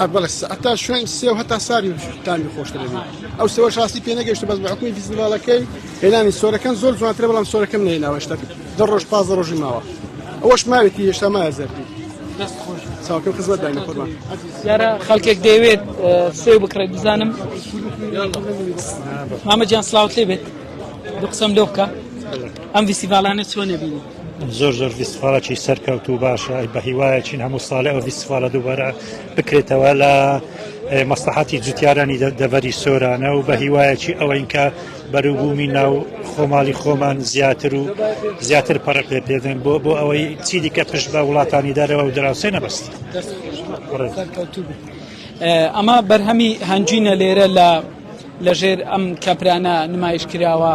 ئەبڵێ سەعتا شوێن سێ و هەتا ساری تامی خۆشترێن ئەو سەوە شاستی پێ نەگەشت بەس بەحکوی فیزیباڵەکەی هێنانی سۆرەکەم زۆر جوانترە بەڵام سۆرەکەم نێناوەشتا دە ڕۆژ پاز ڕۆژی ماوە ئەوەش ماوێتی هێشتا مایە زەربی چاوکە خزمەت داینە قوربان یارە خەڵکێک دەیەوێت سێ بکڕێت بزانم مامە جان سلااوت لێ بێت دو قسەم لۆ بکە ئەم ویسیڤالانە چۆن نەبینی زۆر زۆر بیست ساڵێکی سەرکەوت و باشە بە هیوایەکین هەموو ساڵی ئەو بیست ساڵە دووبارە بکرێتەوە لە مەسلحاتی جوتیارانی دەڤەری سۆرانە و بە هیوایەکی ئەوەین کە بەروبوومی ناو خۆماڵی خۆمان زیاتر و زیاتر پەرق لێ پێدەن بۆ بۆ ئەوەی چی دیکە پشت بە وڵاتانی دەرەوە و دراوسێ نەبست. ئەمە بەرهەمی هەنجینە لێرە لە لەژێر ئەم کەپرانە نمایش کراوە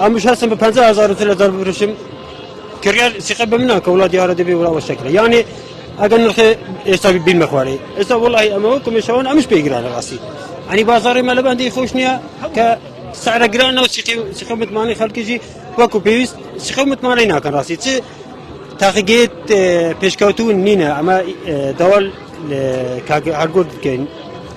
ئەمش هەستم بە پەنج هزار تر لە دەر بفروشم کڕیار سیقە بە منە کە وڵات دیارە دەبێ وڵاوە شەکرە یانێ ئەگەر نرخێ ئێستا بین مەخوارێ ئێستا وڵی ئەمەوە کمیشەوەن ئەمش پێگرانە ڕاستی ئەنی بازاری مە لە بەندی خۆش نییە کە سعرە گرانە و سیقە متمانەی خەڵکیژی وەکو پێویست سیقە متمانەی ناکەن ڕاستی چ تاقیگەێت پێشکەوتون نینە ئەمە داوال کاگە هەرگرد بکەین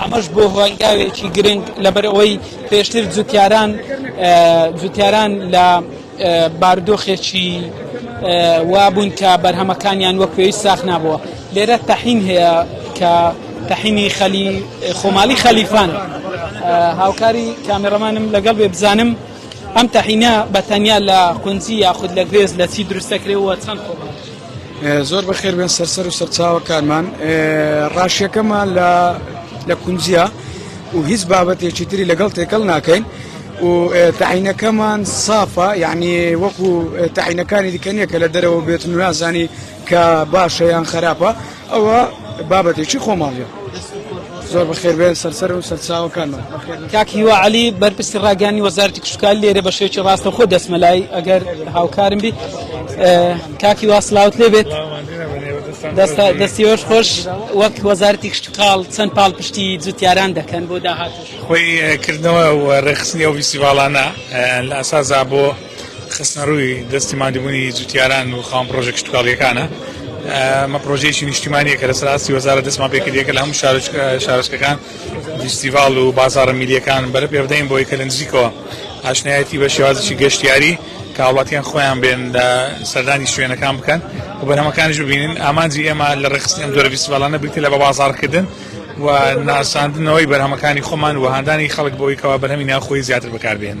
ئەمەش بووە هۆنگاوێکی گرنگ لەبەرئەوەی پێشتر جوتیاران جوتیاران لە باردۆخێکی وابوون کە بەرهەمەکانیان وەک پێویست ساخ نابووە لێرە تەحین هەیە کە تەحینی خەلی خۆماڵی خەلیفان هاوکاری کامێڕەمانم لەگەڵ بێ بزانم ئەم تەحینە بەتەنیا لە قونجی یاخود لە گوێز لە چی دروستەکرێەوە چەند خۆماڵ زۆر بەخێر بێن سەرسەر و سەرچاوەکانمان ڕاشیەکەمان لە لە کونجە و هیچ بابەتێکی تری لەگەڵ تێکەڵ ناکەین و تعینەکەمان سافە یعنی وەکو تعینەکانی دیکە نیە کە لە دەرەوە بێت نوازانی کە باشە یان خراپە ئەوە بابەتێکی خۆماڵیە. زۆر بەخێربێن سەرسەر و سەرچاوەکانمان کاک هیوا علی بەرپرسی ڕاگەانی وەزارتی کشتکال لێرە بە شێوکی ڕاستە خۆ دەسمە لای ئەگەر هاوکارم بی کاکی واسلاوت لێ بێت دەستی وەش خۆش وەک وەزارتی کشتکاڵ چەند پاڵ پشتی جوتیاران دەکەن بۆ داهات خۆی کردنەوە ڕێخستنی ئەو ویسیواڵانە لە ئەسازا بۆ خستنەڕووی دەستی ماندووبوونی جوتیاران و خاوەن پڕۆژە کشتوکاڵییەکانە. ئەمە پڕۆژەیەکی نیشتیمانییە کە لەسەر ئاستی وەزارەت دەستمان پێ کردیە کە لە هەموو شارۆچکەکان فیستیڤاڵ و بازاڕە میللیەکان بەرە پێ بدەین بۆی کە لە نزیکەوە ئاشنایەتی بە شێوازی گەشتیاری کە هاوڵاتیان خۆیان بێن لە سەردانی شوێنەکان بکەن و بەرهەمەکانیش ببینن ئامانجی ئێمە لە ڕێخستنی ئەم جۆرە فیستیڤاڵانە بریتە لە بە بازاڕکردن و ناساندنەوەی بەرهەمەکانی خۆمان و هاندانی خەڵک بۆی کەوا بەرهەمی ناوخۆی زیاتر بەکاربێنن.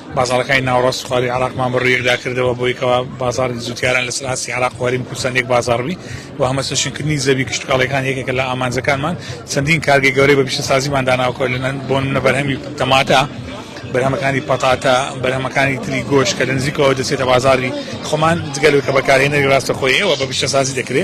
بازاڕەکانی ناوەڕاست و خوارووی عێراقمان بە ڕوویەکدا کردەوە بۆی کەوا بازاڕی جووتیاران لەسەر ئاستی عێراق و هەرێمی کوردستان یەک بازاڕ بی و هەمەچەشنکردنی زەوی کشتوکاڵیەکان یەکێکە لە ئامانجەکانمان چەندین کارگەی گەورەی بە پیشەسازیمان داناوە کە لەنەن بۆ نمونە بەرهەمی تەماتە بەرهەمەکانی پەتاتە بەرهەمەکانی تری گۆش کە لە نزیکەوە دەچێتە بازاری خۆمان جگەلەوەی کە بەکارهێنەری ڕاستەخۆی ئێوە بە پیشەسازی دەکرێ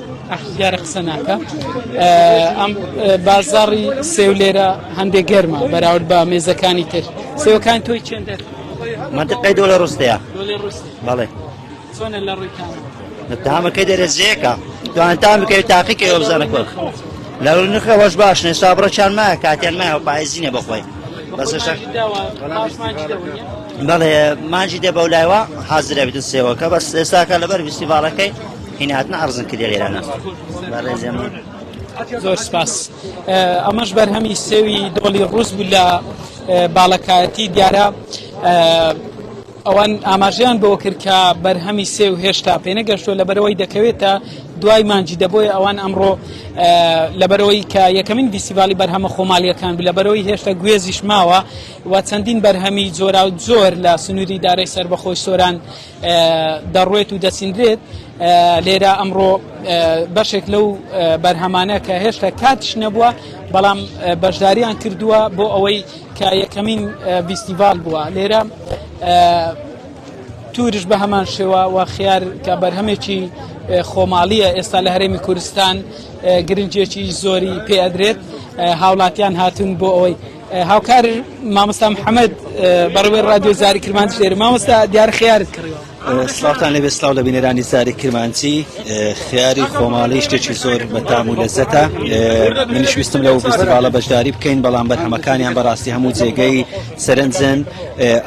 دیارە قسە ناکە ئەم بازاری سێو لێرە هەندێک گەرمە بەراورد بە مێزەکانی تر سێوەکان تۆی چێندە منتقی دۆلە ڕستەیە بەڵێ چۆنە لە ڕووی تامەکەی دەرەزیەکە دوان تام بکەوێت تاقیکە ئەوزانە کۆخ لە نرخە وەش باش نێستا بڕەچان مایە کاتیان مایە و پایزینە بەخۆی بەس بەڵێ مانجی دێ بەولایوە حازرە بێت سێوەکە بەس ئێستاکە لەبەر ویستی باڵەکەی هنا هاتنە ئەڕزن کردی لێرانە بەڕێزێ من زۆر سپاس ئەمەش بەرهەمی سێوی دۆڵی ڕوس بوو لە باڵەکایەتی دیارە ئەوان ئاماژیان بۆ کرد کە بەرهەمی سێ و هێشتا پێنەگەشتۆ لە بەرەوەی دەکەوێتە دوای مانجی دەبۆی ئەوان ئەمڕۆ لە بەرەوەی کە یەکەمین دیسیبالی بەرهەمە خۆمالیەکان لە بەرەوەی هێشتا گوێزیش ماوە و چەندین بەرهەمی جۆرا و زۆر لە سنووری دارای سربەخۆی سۆران دەڕوێت و دەسیندرێت لێرە ئەمڕۆ بەشێک لەو بەرهەمانە کە هێشتا کاتش نەبووە بەڵام بەشداریان کردووە بۆ ئەوەی کە یەکەمین ڤیستیڤال بووە لێرە تورش بە هەمان شێوە و خیار کە بەرهەمێکی خۆماڵیە ئێستا لە هەرێمی کوردستان گرنجێکی زۆری پێدرێت هاوڵاتیان هاتون بۆ ئەوەی هاوکار مامۆستا محەممەد بەڕێوەی ڕادیۆ زاری کرمانج لێرە مامۆستا دیار خیارت کڕیوە سلااوان لەبێ سلااو لە بینەرانی زاری کرمانجی خیاری خۆماڵی شتێکی زۆر بەتام و لەزەتە منیش ویستم لەو فستیڤالە بەشداری بکەین بەڵام بەرهەمەکانیان بەڕاستی هەموو جێگەی سەرنجن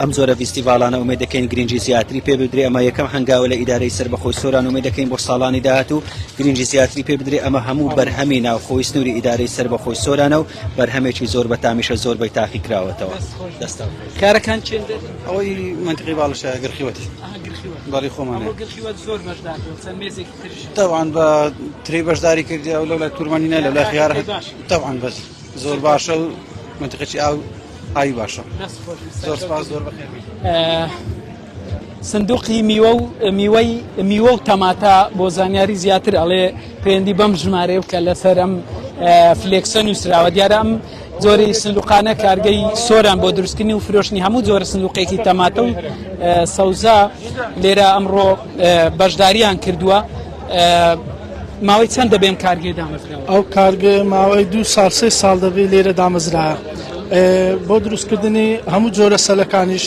ئەم زۆرە فستیڤالانە ومێ دەکەین گرنگجی زیاتری پێ بدرێ ئەمە یەکەم هەنگاوە لە ئیدارەی سەر بەخۆی سۆران ومێ دەکەین بۆ ساڵانی داهات و گرنگجی زیاتری پێ بدرێ ئەمە هەموو بەرهەمی ناوخۆی سنووری ئیدارەی سەر بەخۆی سۆرانە و بەرهەمێکی زۆر بەتامیشە زۆر بەی تاقی کراوەتەوە دەستە کارەکان چێن ئەوەی منتقی باڵشە گرخیوەت بەڵی خۆمان تاوان بە تری بەشداری کردی ئەو لەو لە تورمانینە لە لای خیارە تاوان بەس زۆر باشە و منتقی ئاو ئاوی باشە زۆر سپاس زۆر بەخێ سندوقی میوە و میوەی میوە و تەماتە بۆ زانیاری زیاتر ئەڵێ پێندی بەم ژمارەیە بکە لەسەر ئەم فلێکسە نووسراوە دیارە ئەم جۆری سندوقانە کارگەی سۆران بۆ دروستکردنی و فرۆشتنی هەموو جۆرە سندوقێکی تەماتە و سەوزە لێرە ئەمڕۆ بەشداریان کردووە ماوەی چەند دەبێن کارگەی دامەزراوە ئەو کارگە ماوەی دو سال سێ ساڵ دەبێت لێرە دامەزرا بۆ دروستکردنی هەموو جۆرە سەلەکانیش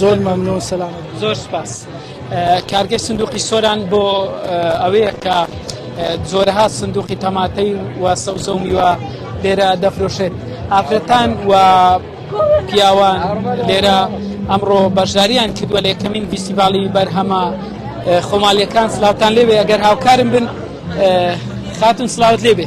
زۆر مەمنون سەلام زۆر سپاس کارگەی سندوقی سۆران بۆ ئەوەیە کە زۆرها سندوقی تەماتەی و سەوزە و میوە لێرە دەفرۆشێت ئافرەتان و پیاوان لێرە ئەمڕۆ بەشداریان کردووە لە یەکەمین فیستیڤاڵی بەرهەمە خۆمالیەکان سلااوان لێوێ ئەگەر هاوکارم بن خاتون سلااوت لێبێ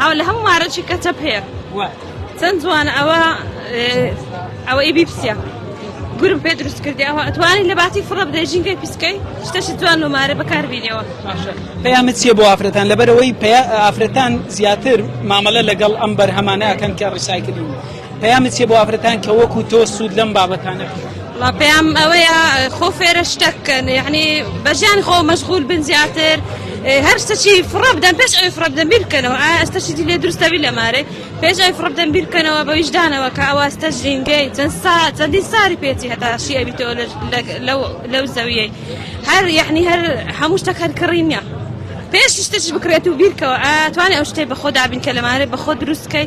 هاو لە هەموو مارەچی کەتە پێ چەند جوانە ئەوە ئەوە ئیبی پسە گورم پێ دروست کردی ئەوە ئەتوانی لە باتی فڕە بدەی ژینگەی پیسکەی شتەشی جوان و مارە بەکاربیینەوە پەیامە چیە بۆ ئافرەتان لەبەرەوەی پێ ئافرەتان زیاتر مامەلە لەگەڵ ئەم بەرهەمانەکەن کە ڕیسایکردن پەیامت چیە بۆ ئافرەتان کە وەکو تۆ سوود لەم بابەتانە بینن؟ وڵا پێیام ئەوەیە خۆ فێرە شتەک بکەن یعنی بە ژیان خۆ مەشغول بن زیاتر هەر شتەچی فڕە بدەن پێش ئەوی فڕە بدەن بیر بکەنەوە ئایا ئەستەشی دی لێ دروستە بی لە مارێ پێش ئەوی فڕە بدەن بیر بکەنەوە بە ویژدانەوە کە ئەوە ئەستە ژینگەی چەند سا چەندی ساری پێچی هەتا شی ئەبی تۆ لەو لەو زەویەی هەر یعنی هەر هەموو شتەک هەر کڕی نیە پێش شتەش بکرێت و بیرکەوە ئا توانێ ئەو شتێ بە خۆ دابین کە لەمارێ بە خۆ دروستکەی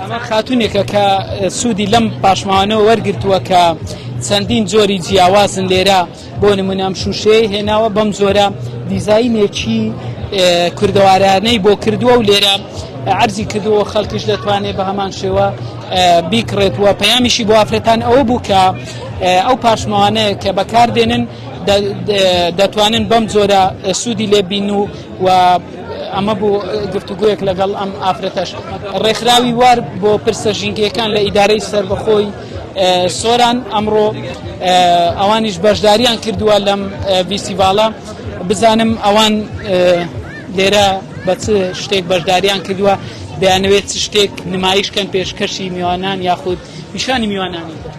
ئەمە خاتونێکە کە سوودی لەم پاشماوانەوە وەرگتووە کە چەندین جۆری جیاوازن لێرە بۆ نمونام شووشەیە هێناوە بەم جۆرە دیزینێکی کوردەوارانەی بۆ کردووە و لێرە عرضی کردووە خەڵکیش دەتوانێت بە هەمان شێوە بیکڕێت وە پەیامیشی بۆ ئافرەتان ئەوە بوو کە ئەو پاشماوانەیە کە بەکاردێنن دەتوانن بەم جۆرە سوودی لێبین و و ئەمە بوو گفتوگۆیەک لەگەڵ ئەم ئافرەتەش ڕێکخراوی وار بۆ پرسە ژینگەکان لە ئیدارەی سربەخۆی سۆران ئەمڕۆ ئەوانیش بەشداریان کردووە لەم ویسیڤالە بزانم ئەوان لێرە بە چ شتێک بەشداریان کردووە دەیانەوێت چ شتێک نمایشکەن پێشکەشی میوانان یاخود پیشانی میوانانی.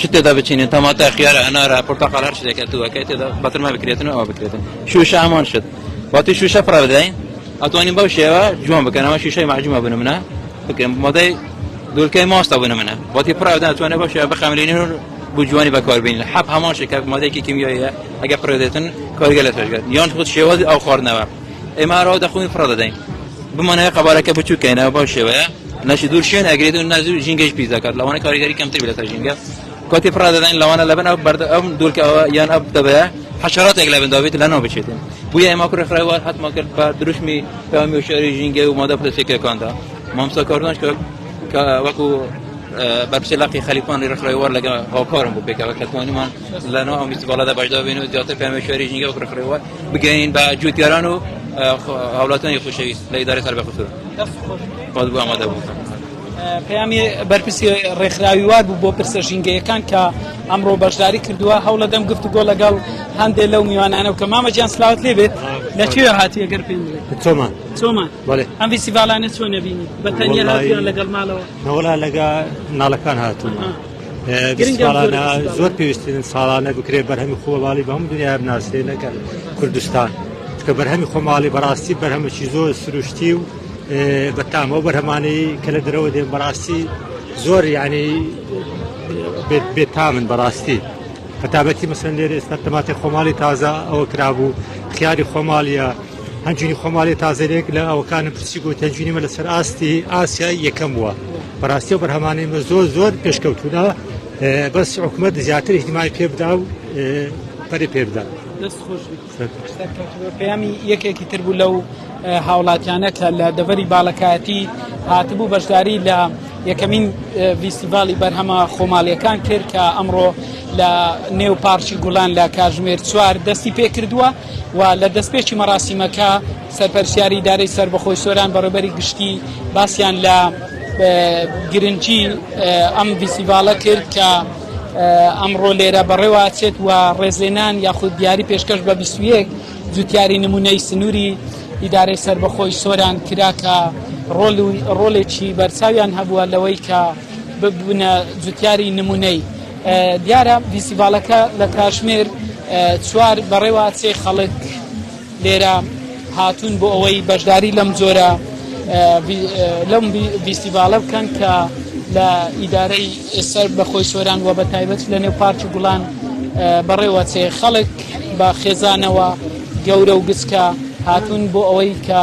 شت تێدا بچینێن تەماتە خیارە ئەنارە پرتەقال هەر شتێکە توەکەی تێدا بەترما بکرێتن و ئەوە بکرێتن شوشە هەمان شت واتی شوشە پڕ بدەین ئەتوانین بەو شێوە جوان بکەنەوە شوشەی مەجموعە بن منە بکەم مەدەی دوولکەی ماستە بن منە واتی پڕدا توانە بەو شێوە بخەمرێنین و بۆ جوانی بەکاربین لە حەب هەمان شێکە مادەیەکی کیمیاییە ئەگە پڕێدێتن کارگە لە توێژگەت یان خود شێوازی ئەو خواردنەوە ئێمە ئەرەوە دەخۆین پڕ دەدەین بمانەیە قەبارەکە بچووکەینەوە بەو شێوەیە نەشی دوور شوێن ئەگرێت و نەزوو ژینگەش پیس دەکات لەوانە کاریگەری کەمتر بێت لەسەر ژینگە کاتی پڕا دەدەین لەوانە لەبن ئەو بەردە ئەم دوورکەوە یان ئەب دەبەیە حشراتێک لە بنداوێت لەناو بچێتن بویە ئەمە کوڕخراوە حتما کرد بە دروشمی پامی و شاری ژینگە و مادە پرسێکەکاندا مامسا کاردۆنش کرد کە وەکو بەرپسی لاقی خەلیفانی ڕخرای وەر لەگە هاوکارم بۆ پێکەوە کە توانیمان لەناو ئەو میسی باڵەدا بەشدا بین و زیاتر پامی شاری ژینگە و ڕخرەوە بگەین بە جوتیاران و هاوڵاتانی خوشەویست لە ئیدارە سەر بە خسوور پەیامی بەرپرسی ڕێکخراوی وار بوو بۆ پرسە ژینگەیەکان کە ئەمڕۆ بەشداری کردووە هەوڵە دەم گفت گۆ لەگەڵ هەندێ لەو میوانانە کە مامەجیان سلااوت لێ بێت لەکوێ هاتی ئەگەر پێ چۆمان چۆمان ئەم ویسیڤالانە چۆن نبینی بەتەنیا لەگەڵ ماڵەوە نەوەلا لەگە ناڵەکان هاتوو ساڵانە زۆر پێویستن ساڵانە بکرێت بەرهەمی خۆڵالی بەم دنیا بناسرێ نەکەن کوردستان کە بەرهەمی خۆماڵی بەڕاستی بەرهەمەکی زۆر سروشتی و بە تامەوە بەرهەمانەی کە لە درەوە دێن بەڕاستی زۆر یعنی بێتامن بەڕاستی هەتابەتی مەسن لێرە ئێستا تەماتی خۆماڵی تازە ئەوە کرابوو خیاری خۆماڵیە هەنجوینی خۆم والێ تازەێک لە ئەوکانە پرسی گوت هەنجوینیمە لەسەر ئاستی ئاسیایی یەکەم بووە بەڕاستی و بەرهەمانەیمە زۆر زۆر پێشکەوتودا بەس حکومت زیاتر احتیمای پێ بدا و پەری پێ بدا پەیامی یەکێکی تر بوو لەو هاوڵاتیانە کە لە دەڤەری باڵەکایەتی هاتبوو بەشداری لە یەکەمین ڤیستیڤالی بەرهەمە خۆماڵیەکان کرد کە ئەمڕۆ لە نێو پارچی گوڵان لە کاژمێر چوار دەستی پێ کردووە و لە دەستپێکی مەراسیمەکە سەرپەرشتیاری ئیدارەی سەربەخۆی سۆران بەڕێوبەری گشتی باسیان لە گرنگی ئەم ڤیسیڤالە کرد کە ئەمڕۆ لێرە بەڕێواچێت و ڕێزێنان یاخود دیاری پێشکەش بە بیسویەک جوتیاری نمونەی سنووری ئیدارەی سربەخۆی سۆران کرا کە ڕۆلێکی بەرچاویان هەبووە لەوەی کە ببوونە جوتیاری نمونەی دیارە ڤیستیڤاڵەکە لە کاتژمێر چوار بەڕێوە ئەچێ، خەڵک لێرە هاتوون بۆ ئەوەی بەشداری لەم جۆرە لەم ڤیستیڤاڵە بکەن کە لە ئیدارەی ئێسەر بە خۆی سۆران و بە تایبەت لە نێو پارکی گوڵان بەڕێوە چێ خەڵک بە خێزانەوە گەورە و گچکە هاتوون بۆ ئەوەی کە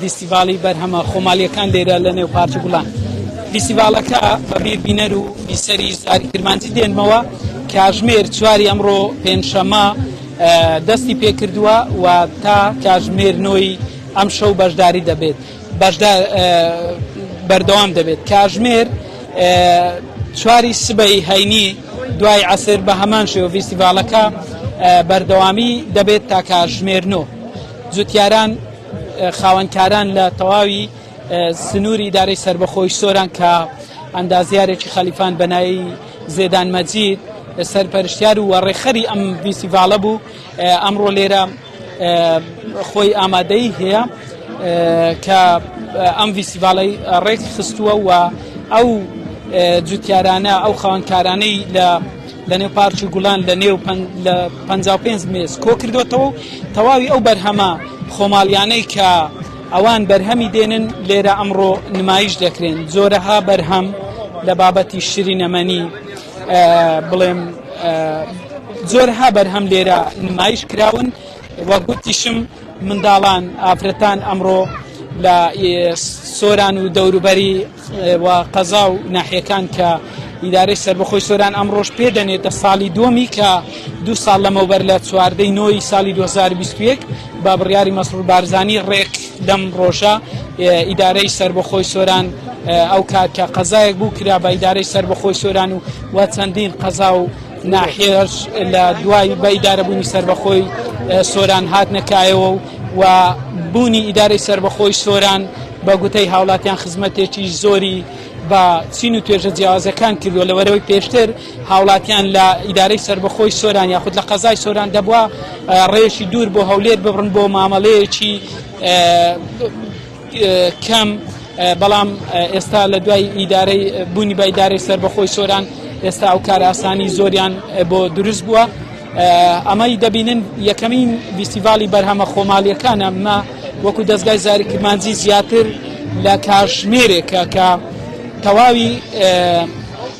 فیستیڤاڵی بەرهەمە خۆماڵییەکان لێرە لە نێو پارکی گوڵان فیستیڤاڵەکە بە بیر بینەر و بیسەری سواری کرمانجی دێنمەوە کاژمێر چواری ئەمڕۆ پێنجشەمە دەستی پێکردووە و تا کاژمێر نۆی ئەم شەو بەشداری دەبێت بەشدار بەردەوام دەبێت کاژمێر چواری سبەی هەینی دوای عسر بە هەمان شێوە فیستیڤالەکە بەردەوامی دەبێت تا کاژمێرنۆ جوتیاران خاوەنکاران لە تەواوی سنووری ئیدارەی سەربەخۆی سۆران کە ئەندازیارێکی خەلیفان بەنایی زێدان مەجید سەرپەرشتیار و وەڕێخەری ئەم فیسیڤالە بوو ئەمڕۆ لێرە خۆی ئامادەی هەیە کە ئەم فیسیڤالەی ڕێک خستووە و ئەو جوتیارانە ئەو خاوەنکارانەی لە لەنێو پارک و گوڵان لە نێو لە پ پێنج مێز کۆ کردوێتەوە و تەواوی ئەو بەرهەمە خۆماڵیانەی کە ئەوان بەرهەمی دێنن لێرە ئەمڕۆ نمایش دەکرێن زۆرەها بەرهەم لە بابەتی شری نەمەنی بڵێم زۆرها بەرهەم لێرە نمایش کراون وە گوتیشم منداڵان ئافرەتان ئەمڕۆ لە سۆران و دەوروبەری و قەزا و ناحیەکان کە ئیدارەی سەربەخۆی سۆران ئەمڕۆژ پێ دەنێتە ساڵی دووەمی کە دوو ساڵ لەمەوبەر لە چواردەی نۆی ساڵی 2021 بە بڕیاری مەسرور بارزانی ڕێک دەم ڕۆژە ئیدارەی سەربەخۆی سۆران ئەو کات کە قەزایەک بوو کرا بە ئیدارەی سەربەخۆی سۆران و و چەندین قەزا و ناحێش لە دوای بە ئیدارەبوونی سەربەخۆی سۆران هاتنەکایەوە و و بوونی ئیدارەی سەربەخۆی سۆران بە گوتەی هاوڵاتیان خزمەتێکی زۆری بە چین و توێژە جیاوازەکان کردووە لە وەرەوەی پێشتر هاوڵاتیان لە ئیدارەی سەربەخۆی سۆران یاخود لە قەزای سۆران دەبووە ڕێژی دوور بۆ هەولێر ببڕن بۆ مامەڵەیەکی کەم، بەڵام ئێستا لە دوای ئیدارەی بوونی بە ئیدارەی سەربەخۆی سۆران ئێستا ئەو کارئاسانی زۆریان بۆ دروست بووە ئەمەی دەبینن یەکەمین ویستیڤالی بەرهەمە خۆماڵیەکانە مە وەکو دەستگای زاری کرمانجی زیاتر لە کاژمێرێکە کە تەواوی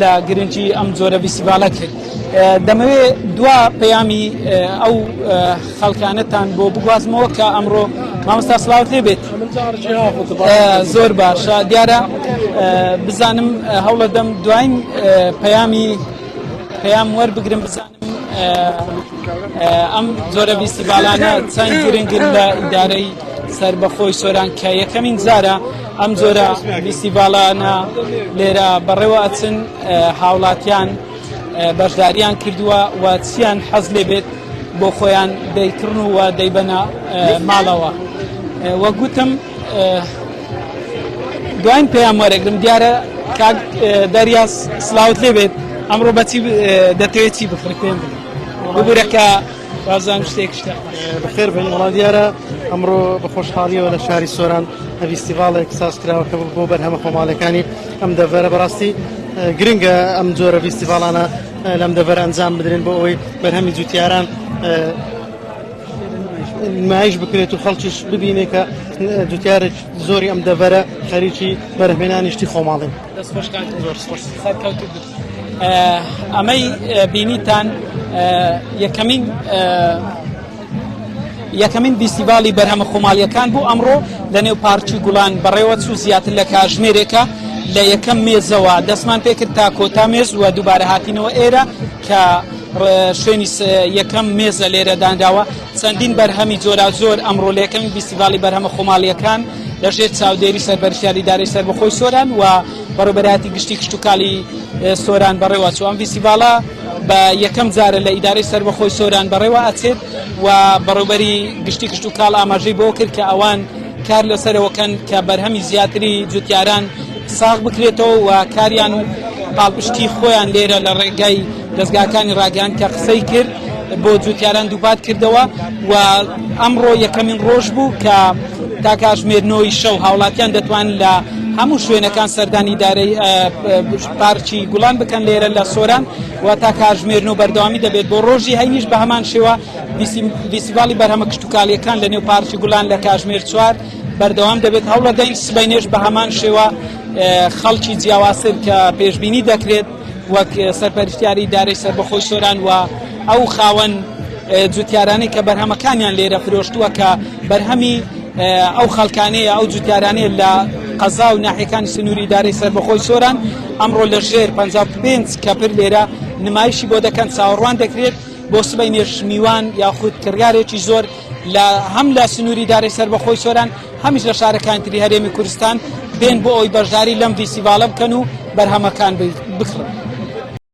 لە گرنگی ئەم جۆرە ڤیستیڤالە کرد. دەمەوێ دوا پەیامی ئەو خەڵکانەتان بۆ بگوازمەوە کە ئەمڕۆ مامۆستا سلااوت لێ بێت زۆر باشە دیارە بزانم هەوڵە دەم دواین پەیامی پەیام وەربگرم بزانم. ئەم جۆرە بیسیبالانە چەند گرنگن لە ئیدارەی سربەخۆی سۆران کە یەکەمین جارە ئەم جۆرە بیسیبالانە لێرە بەڕێوە ئەچن هاوڵاتیان بەشداریان کردووە و چیان حەز لێ بێت بۆ خۆیان دەیکڕن و دەیبەنە ماڵەوە وەگوتم دواین پەیام وەرەگرم دیارە کاک دەریاس سلااوت لێ بێت ئەمڕۆ بەچی دەتەوێت چی بخڕی پێم بگورە کە بازان شتێک شتە بخێر بن وڵا دیارە ئەمڕۆ بە خۆشحاڵیەوە لە شاری سۆران هەویستیڤاڵێک ساز کراوەکە بۆ بەرهەمە خۆماڵەکانی ئەم دەڤەرە بەڕاستی گرنگە ئەم جۆرە ویستیڤاڵانە لەم دەڤەر ئەنجام بدرێن بۆ ئەوەی بەرهەمی جوتیاران نمایش بکرێت و خەڵکیش ببینێ کە جوتیارێک زۆری ئەم دەڤەرە خەریکی بەرهمێنانی شتی خۆماڵین ئەمەی بینیتان یەکەمین یەکەمین بیسیباڵی بەرهەمە خۆماڵیەکان بوو ئەمڕۆ لە نێو پارچی گوڵان بەڕێوە چوو زیاتر لە کاژمێرێکە لە یەکەم مێزەوە دەستمان پێکرد تا کۆتا مێز وە دووبارە هاتینەوە ئێرە کە شوێنی یەکەم مێزە لێرە دانراوە چەندین بەرهەمی جۆراوجۆر ئەمڕۆ لەکەمی بیسیڤالی بەرهەمە خۆماڵیەکان لەژێر چاودێری سەربەرشیاری دارەی سەر بەخۆی سۆران و بەڕێبەراتی گشتی کشتتوکالی سۆران بەڕێوە چوان بیسیڤالە بە یەکەم جارە لە ئیدارەی سەربەخۆی سۆران بەڕێوە ئەچێت و بەڕێبەری گشتی کشت و کاڵ ئاماژەی بۆ کرد کە ئەوان کار لەسەرەوەکەن کە بەرهەمی زیاتری جوتیاران ساغ بکرێتەوە و کاریان و پاڵپشتی خۆیان لێرە لە ڕێگای دەستگاکانی ڕاگەیان کە قسەی کرد بۆ جوتیاران دووپات کردەوە و ئەمڕۆ یەکەمین ڕۆژ بوو کە تا کاژمێرنەوەی شەو هاوڵاتیان دەتوان لە هەموو شوێنەکان سەردانی دارەی پارکی گوڵان بکەن لێرە لە سۆران و تا کاژمێرن و بەردەوامی دەبێت بۆ ڕۆژی هەینیش بە هەمان شێوە دیسیباڵی بەرهەمە کشتتوکالیەکان لە نێو پارکی گوڵان لە کاژمێر چوار بەردەوام دەبێت هەوڵەدەین سبەینێش بە هەمان شێوە خەڵکی جیاوازتر کە پێشببینی دەکرێت وەک سەرپەرشتیاری دارەی سربەخۆی سۆران و ئەو خاوەن جوتیارانی کە بەرهەمەکانیان لێرە فرۆشتووە کە بەرهەمی ئەو خەڵکانەیە ئەو جوتیارانەیە لە قەزا و ناحەکانی سنووری دارەی سربەخۆی سۆران ئەمڕۆ لە ژێر 55 کەپر لێرە نمایشی بۆ دەکەن چاوەڕوان دەکرێت بۆ سبەی نێش میوان یاخود کڕارێکی زۆر لە هەم لە سنووری دارێ سەربەخۆی سۆران هەمیش لە شارەکانی تری هەرێمی کوردستان بێن بۆ ئەوی بەشداری لەم ڤیسیڤالە بکەن و بەرهەمەکان بکڕن.